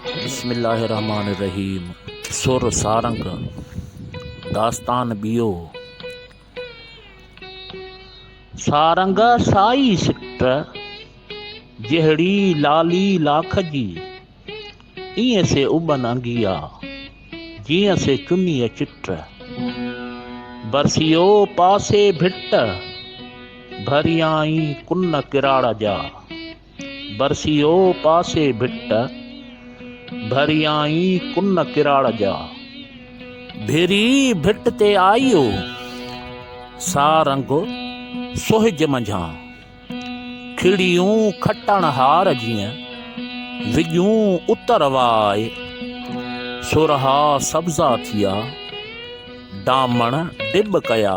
بسم الله الرحمٰن الرحيم سر سارنگ داستان ٻيو سارنگ سائي سٽ جهڙي لالي لاک جي ايئن سي اٻن انگيا جيئن سي چنيء چٽ برسيو پاسي ڀٽ ڀريائين ڪن ڪراڙ جا برسيو پاسي ڀٽ، ڀريائين ڪن ڪراڙ جا. ڀيري ڀٽ تي آيو، سا رنگ سهج منجهان. کڙيون کٽڻ هار جيئن، وڄون اتر واء. سرها سبزا ٿيا، ڊامڻ ڊٻ ڪيا.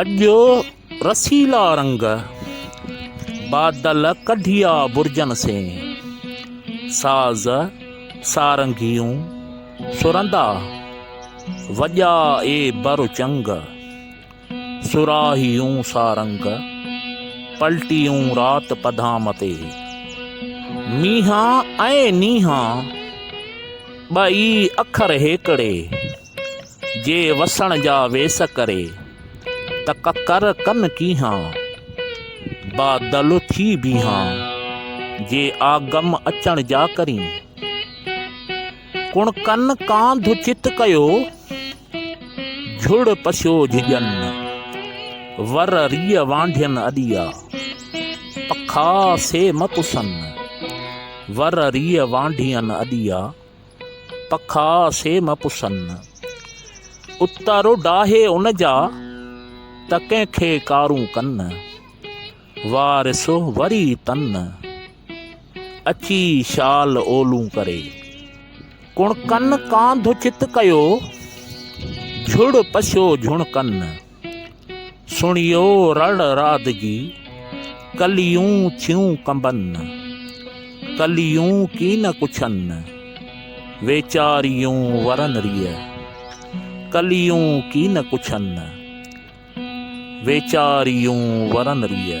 اڄ رسيلا رنگ بادل ڪڍيا برجن سين ساز سارنگيون سرندا وڄا اي بر چنگ سراهيون سارنگ پلٽيون رات پڌام تي مينهان ۽ نينهان ٻئي اکر هيڪڙي جي وسڻ جا ويس ڪري، ته ڪڪر ڪن ڪيهان، با دل ٿي بيهان، جي آ غم اچڻ جا ڪرين. ڪڻ ڪن ڪانڌ چت ڪيو، جهڙ پسيو جهڄن، ور ريء وانڍين اڏيا، پکا سي م پسن، ور ريء وانڍين اڏيا. پکا سي م پسن، اتارو ڊاهي ان جا، ته ڪنهن کي ڪارون ڪن، وارث وري تن، اچي شال اولون ڪري، ڪڻڪن ڪانڌ چت ڪيو، جھڙ پشو جھڻڪن. سڻيو رڙ رعد جي، ڪليون ٿيون ڪنبن، ڪليون ڪين ڪڇن، ويچاريون ورن ريء، ڪليون ڪين ڪڇن، ويچاريون ورن ريء.